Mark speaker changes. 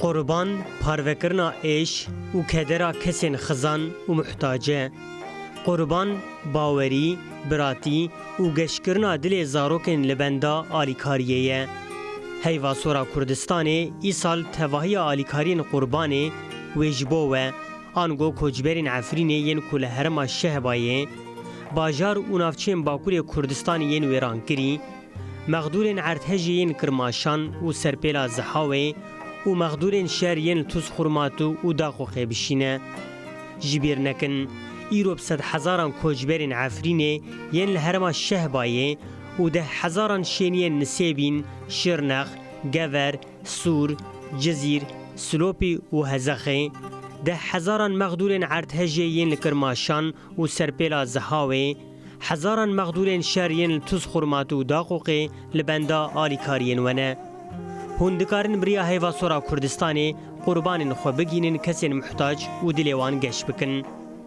Speaker 1: Qurban parvekirina êş û kedera kesên xizan û muhtac e. Qurban bawerî, biratî û geşkirina dilê zarokên li benda alîkariyê ye. Heyva Sora Kurdistanê îsal tevahiya alîkariyên Qurbanê wê ji bo we. Ango koçberên Efrînê yên ku li herêma Şehbayê, bajar û navçeyên Bakurê Kurdistanê yên wêrankirî, mexdûrên Erdhejê yên Kirmaşan û Serpêla Zihawê û mexdûrên şer yên li Tûz Xurmatu û Daxoxê bişîne. Ji bîr nekin, îro bi sed hezaran koçberên Efrînê yên li herêma Şehbayê û deh hezaran şêniyên Nisêbîn, Şirnex, Gever, Sûr, Cizîr, Silopî û Hezexê deh hezaran mexdûrên erdhejê yên li Kirmaşan û Serpêla Zihawê, hezaran mexdûrên şer yên li Tuzxurmat û Daqûqê li benda alîkariyên we ne. Hûn dikarin bi riya heyva sor a Kurdistanê qurbanên xwe bigihînin kesên muhtac û dilê wan geş bikin.